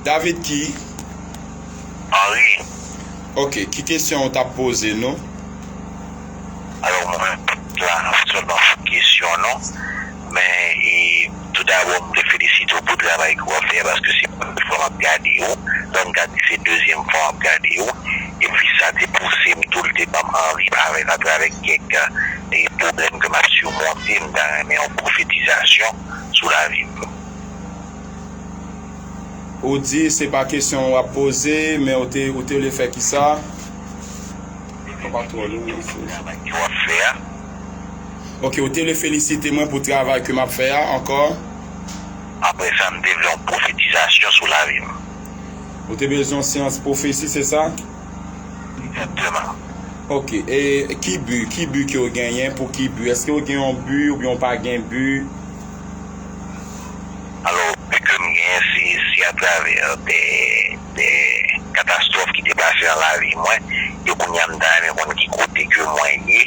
David ki? Henri. Ok, ki kesyon ou tap poze nou? Alò mwen menm m pat la sèlman pou kesyon nou, men tou dabò m vle felisite w pou travay ke w ap fè a paske se premye fwa m ap gade yo, sa m ka di se dezyèm fwa m ap gade yo, epi sa te pouse m tou, li te banm anvi parèt atravè kèk pwoblèm ke m ap simonte, m ta renmen yon pwofetizasyon sou lavi m. Ou di se pa kesyon wap poze men ou te ou te vle fè ki sa? Mwen pa twò lwen nan fè sa. Travay ke wap fè a. Ok ou te vle felisite mwen pou travay ke map fè a ankò? Apre sa m te vle yon pwofetizasyon sou lavi m. Ou te bezwen yon seyans pwofesi se sa? Egzakteman. Ok e ki bi ki bi ke ou genyen pou ki bi eske ou gen yon bi oubyen ou pa gen bi? Alò, pi ke m genyen, se si atravè dè katastwòf ki te pase nan lavi mwen, e kounye a m ta renmen konn ki kote ke mwen ye,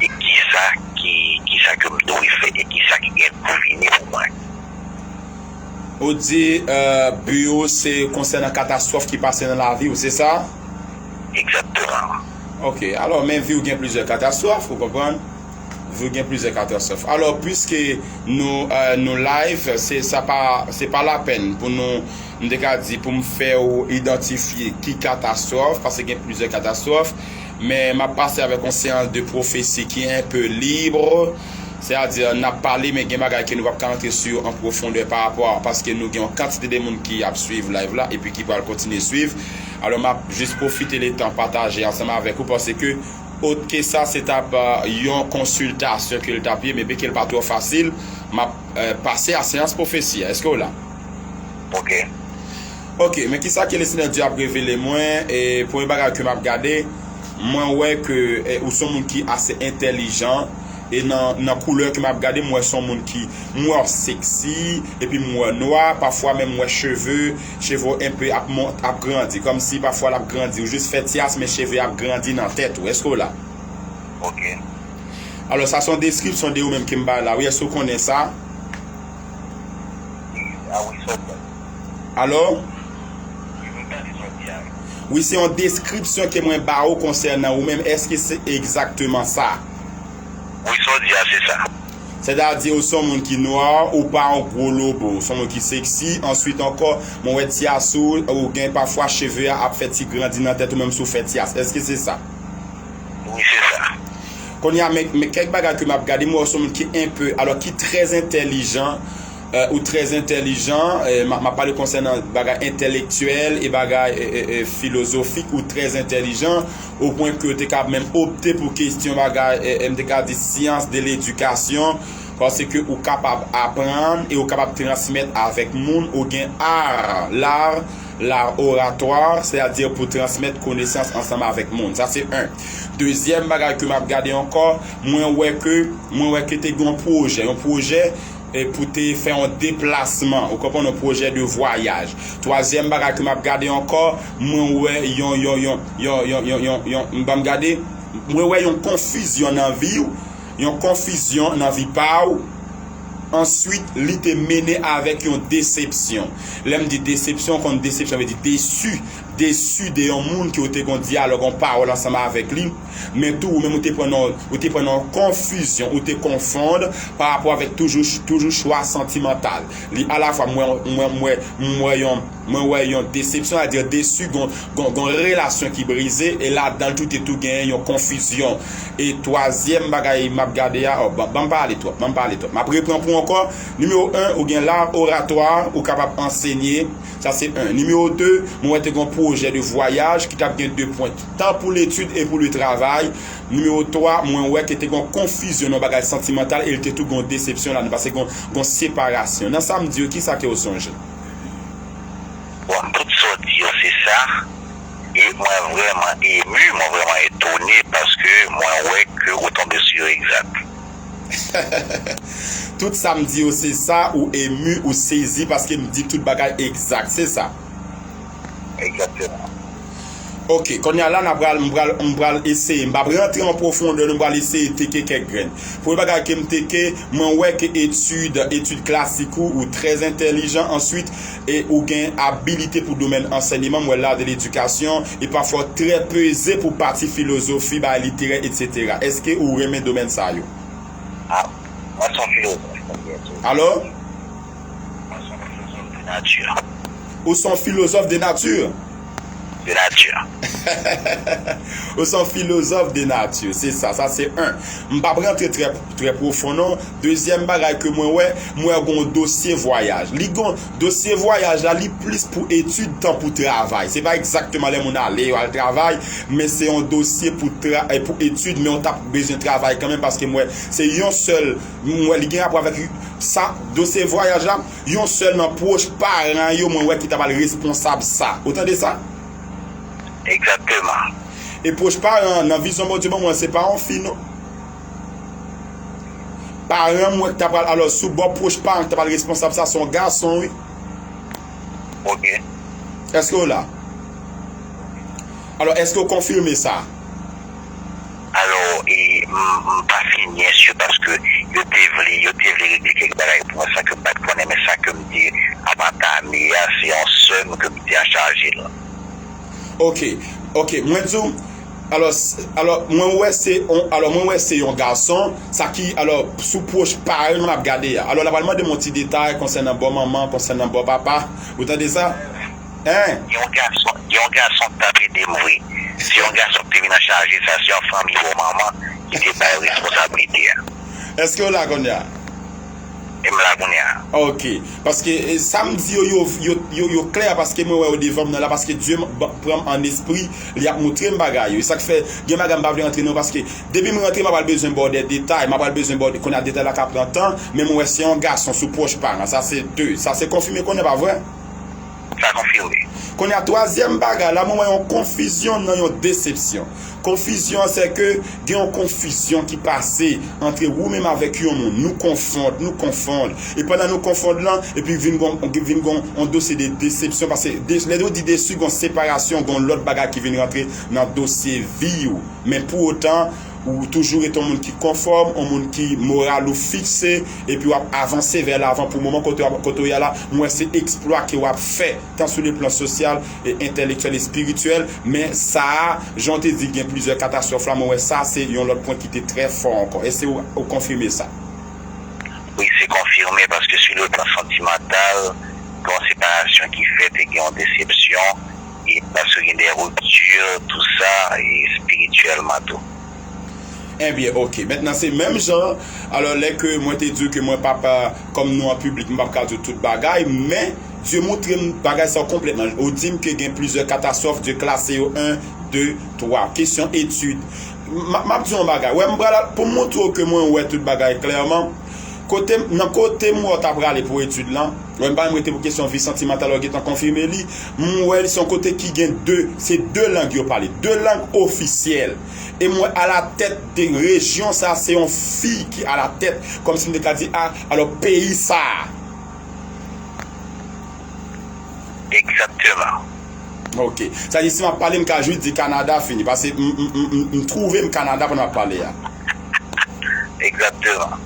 e kisa kisa ke m dwe fè, e kisa ki gen pou vini pou mwen. Ou di bi ou se konsènan katastwòf ki pase nan lavi ou, se sa? Egzakteman. Ok. Alò, men vi ou gen plizyè katastwòf, ou konprann? Vue gen plizyè katastwòf. Alò pwiske nou nou live se sa pa se pa lapèn pou nou m te ka di pou m fè ou idantifye ki katastwòf pase gen plizyè katastwòf men m ap pase avèk yon seyans de pwofesi ki enpe libre se a di n ap pale men gen bagay ke nou p ap ka antre sou yo an pwofondè pa rapò a paske nou gen yon kantite de moun ki ap swiv live la epi ki pral kontinye swiv alò m ap jis pwofite le tan pataje ansanm avèk ou pase ke Otke sa se tap yon konsiltasyon ke l tap ye, men peke l pa twò fasil, m ap pase a seyans pwofesi a. Eske w la? Ok. Ok, men kisa ke Lesenyè Dye ap revele mwen, e premye bagay ke m ap gade, mwen wè ke ou son moun ki ase entèlijan, e nan koulè ke m ap gade m wè son moun ki, m wè w seksi, epi m wè w nwa, pafwa menm m wè cheve, Cheve w enpe ap mont, ap grandi. Kòmsi pafwa l ap grandi. Ou jis fè ti as men cheve ap grandi nan tèt ou. Èske w la? Ok. Alò sa se yon deskripsyon de ou menm ke m bay la wi. Èske w konnen sa? A wi sa w bay. Alò? M tande sa w di a wi. Wi se yon deskripsyon ke mwen ba ou konsènan ou menm. Èske se egzakteman sa? Wi sa w di a se sa. Sètadi ou son moun ki noir, ou pa yon gwo lobo, ou son moun ki sexy, answit ankò mwen wè tyas ou, ou gen pafwa cheve a ap fè ti grandi nan tèt ou menm si ou fè tyas, èske se sa? Wi se sa. Kounye a men kèk bagay ke map gade, mwen wè ou son moun ki enpe, alò ki trè entèlijan, Ou trè entèlijan, m ap pale konsènan bagay entèlektyèl e bagay filozofik, ou trè entèlijan o pwen ke ou te kab menm opte pou kestyon bagay m te ka di science de l'éducation pase ke ou kapab aprann e ou kapab transmèt avèk moun, ou gen art, l'art, l'art oratoire, sè a di pou transmèt konesans ansanm avèk moun. Sa se 1. Dezyèm bagay ke m ap gade ankò, mwen wè ke mwen wè ke te gen yon pwojè, yon pwojè. pou te fè yon deplasman, ou konprann, yon pwojè de vwayaj. Twazyèm bagay ke m ap gade ankò, mwen wè yon, yon, yon, yon, yon, yon, yon, yon, m ban m gade, mwen wè yon konfizyon nan vi ou, yon konfizyon nan vi pa ou, answit li te mennen avèk yon desepsyon. Lè m di desepsyon, ou konn desepsyon vle di desu, desu de yon moun ke ou te gen yon dyalòg, yon pawòl ansanm avèk li. Men tou ou menm ou te pran nan ou te pran nan yon konfizyon, ou te konfond pa rapò avèk toujou toujou chwa santimantal. Li alafwa m wè yon m wè m wè m wè yon mwen wè yon desepsyon sa di desu gon gon gon relasyon ki brize e ladan l tou te tou genyen yon konfizyon. E twazyèm bagay m ap gade a ò ban ban m pale twòp ban m pale twòp m ap repran pou ankò nimewo 1 ou gen lar oratwa ou kapab ansenye Sa se 1. Nimewo 2, mwen wè te gen yon pwojè de vwayaj ki t ap gen 2 pwen, tan pou letid e pou le travay. Nimewo 3, mwen wè ke te gen yon konfizyon nan yon bagay santimantal e li te tou gen yon desepsyon ladan, paske gen yon separasyon. Nan sa m di yo, ki sa ke ou sonje? Bon, tout sa w di yo se sa. E mwen vrèman emu, mwen vrèman etone paske mwen wè ke ou tonbe sou yo egzat. Tout sa m di yo se sa ou emu ou sezi paske m di tout bagay egzak se sa? Egzakteman. Ok konnya la na pral m pral m pral eseye m pap rantre an pwofondè nou pral eseye teke kèk grenn. Premye bagay ke m teke mwen wè ke etid etid klasik ou ou trè entèlijan answit E ou gen abilite pou domèn ansènyeman, m wè la de ledikasyon, e pafwa w trè peze pou pati filozofi, bagay literè, etsetera. Eske ou renmen domèn sa yo? A. Mwen son filozof mwen gen tou. Alò? Mwen son filozof de nati. Ou son filozof de nati? de nature. Ou son philosophe de nature, se sa, sa se 1. M pap rantre trè profon non. Dezyèm bagay ke mwen wè, m wè gen yon dosye vwayaj. Li gen, dosye vwayaj la li plis pou etid tan pou travay. Se pa egzakteman lè moun ale yo al travay, men se yon dosye pou tra, pou etid men ou ta bezwen travay kanmenm paske m wè se yon sèl, m wè li gen rapò avèk sa, dosye vwayaj la. Yon sèl nan pwoch paran yo mwen wè ki ta pral responsab sa. Ou tande sa? Egzakteman. E pwoch paran an, nan vizyon Bondye ban mwen, se pa yon fi non. Paran mwen ki ta pral, alò sou bò pwoch paran ki ta pral responsab sa, se yon gason wi. Ok. Eske ou la? Alò eske ou konfime sa? Alò m pa fin nyès yo paske yo te vle yo te vle regle kèk bagay pou mwen san ke m pa t konnen men sa ke m te ap antame a se yon sè m ke m te anchaje l. Ok ok mwen di w alò alò mwen wè se yon alò mwen wè se yon gason sa ki alò sou pwoch pa l m ap gade a alò l a pral mande m yon ti detay konsènan bò manman konsènan bò papa ou tande sa. Hein! Gen yon gason gen yon gason ki tap edem vre se yon gason ki te vin an chaje sa se yon fanmi bò manman ki te bay responsablite a. Eskew la kounye a? M la kounye a. Ok, paske sam di yo yo yo klè paske mwen wè yo devanm nan la paske Dye pranm an espri li ap moutrem bagay yo esak fè gen bagay m pa vle rantre nan yo paske depim rantre m apral bezwen baw dè detay m apral bezwen baw kounye a detay la ka pran tan men mwen wè se yon gason sou pwoch paran sa se 2 sa se konfime kounye a pa vre? Sa konfime. Kounye a, twazyèm bagay la, mwen wè yon konfizyon nan yon desepsyon. Konfizyon an se ke gen yon konfizyon ki pase antre ou menm avèk yon moun. Nou konfond, nou konfond. E pandan nou konfond lan, epi vin gon, vin gon yon dosye de desepsyon. Pase lè nou di desu, gon separasyon, gon lòt bagay ki vin rantre nan dosye vi ou. Men pou otan. Ou toujou ret yon moun ki konfòm, yon moun ki moral ou fikse, epi w ap avanse vè lavan pou moman kote w ye la. M wè se eksplwa ke w ap fè, tan sou le plan sosyal, entèlektyèl, espirityèl. Men sa a, jan w te di gen plizyè katastwòf la, mwen wè sa a se yon lòt pwen ki te trè fò ankò. Èske ou konfime sa? Wi, se konfime, paske sou le plan santimantal, gen yon separasyon ki fèt e gen yon desepsyon. e paske gen de rupture tout sa e spirituellement tou. Ebyen ok mentnan se menm jan alò lè ke mwen te diw ke mwen pap kòm nou an piblik m pap ka diw tout bagay men Dye moutrem bagay sa konplètman ou dim ke gen plizyè katastwòf Dye klase yo 1 2 3 kesyon etid map diw yon bagay wè m pral poum moutrew ke mwen wè tout bagay klèman kotem nan kotem wè ou ta prale pou etid lan Lè m pale m rete pou kesyon vi santimantal yo gentan konfime li. M wè li se yon kote ki gen 2, se 2 lang yo pale, 2 lang ofisyèl. E m wè alatèt de rejyon sa a se yon fi ki alatèt, kòmsi m te ka di a, alò peyi sa a. Egzakteman. Ok. Sa vle di si m ap pale m ka jis di Kanada fini. Pase m twouve m Kanada pandan m ap pale a. Exactement.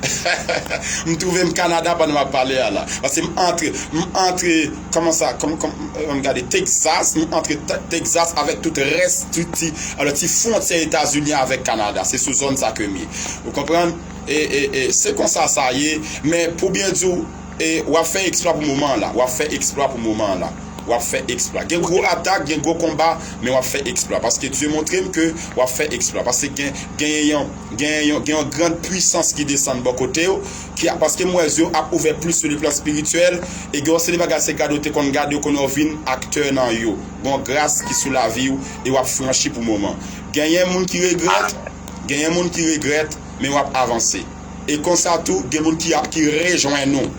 M trouvem Canada pandan wap pale a la. Paske m antre, m antre Koman sa, ann gade Texas, m antre Texas avèk tout rès ti alò ti fwontyè Etazini avèk Canada. Se sou zòn sa kem ye. Ou konprann? E e e se konsa sa ye, men pou byen di w E wap fè eksplwa pou moman an la wap fè eksplwa pou moman an la wap fè eksplwa gen gwo atak gen gwo konba men wap fè eksplwa paske Dye montrem ke wap fè eksplwa paske gen genyen yon genyen yon gen yon grand pwisans ki desann bò kotew ki ap paske m wè zyew ap ouvè plis sou le plan spirityèl e gen yon seri bagay se gade ou te konn gade ou konnen ou vin aktè nan yo gen yon gras ki sou laviw e wap franchi pou moman genyen moun ki regrèt genyen moun ki regrèt men wap avanse. E konsa tou, gen moun ki ap ki rejwenn ou,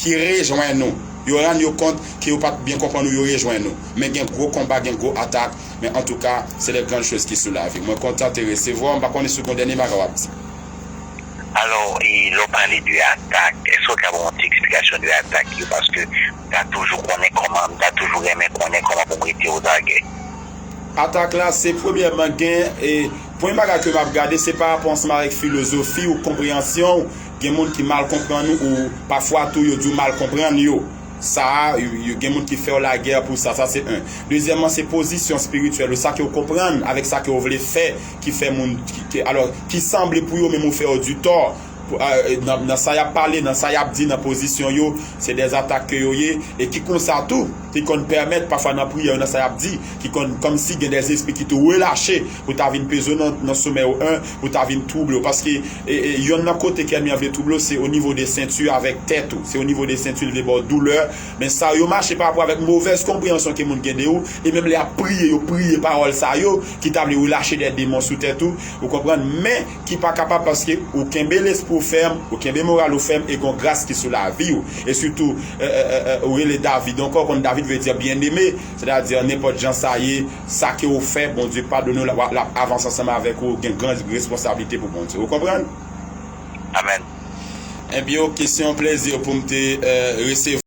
ki rejwenn ou, yo rann yo kont ke yo pat byen konprann ou yo rejwenn ou. Men gen gwo konba, gen gwo atak, men antouka se de grann choz ki sou lavi. Mwen kontan te resevwa w, m pa konnen si w gon dènye bagay w ap di. Alò, e lè w pale de atak, èske w ka ban yon ti eksplikasyon de atak yo? Paske m ta toujou konnen kòman, m ta toujou renmen konnen kòman pou m rete ozagè. Atak la se premyèman gen e premye bagay ke map gade se pa rapò ansanm avèk filozofi ou konpreyansyon ou gen moun ki mal konprann ou ou pafwa tou yo di ou mal konprann yo sa a gen moun ki fèw lagè pou sa sa se 1 dezyèman se pozisyon spirityèl ou sa ke ou konprann avèk sa ke ou vle fè ki fè moun ki alò ki sanble pou yo menm ou fè yo di tò. nan sa yap pale, nan sa yap di, nan pozisyon yo, se dè atak ke yo ye, e ki konsa tou, ki konn pèmèt pafwa nan priyè yo, nan sa yap di, ki konn kòmsi gen dè espri ki tou relache pou ta vin peze w nan somè w, en, pou ta vin twouble w, paske yonn nan kote ke ènmi an vle twouble w, se onivo de senti avèk tèt ou, se onivo de senti li vle ba w doulè, men sa yo mache pa rapò avèk movèz konpreyansyon ke moun gen de ou, e menm lè yap priye, yo priye pawòl sa yo, ki ta vle relache dè demon sou tèt ou, ou konprann, men. ki pa kapab paske ou kenbe lespri ou fèm, ou kenbe moral ou fèm e gon gras ki sou lavi ou. E sitou ou rele David ankò, ou konn David vle di byeneme, sètadi nenpòt jan sa ye, sa ke ou fè Bondye padone ou l ap avanse ansanm avèk ou, ou gen gran responsablite pou Bondye. Ou konprann? Amen. Enbyen ok, se yon plezi pou m te resevwa ou.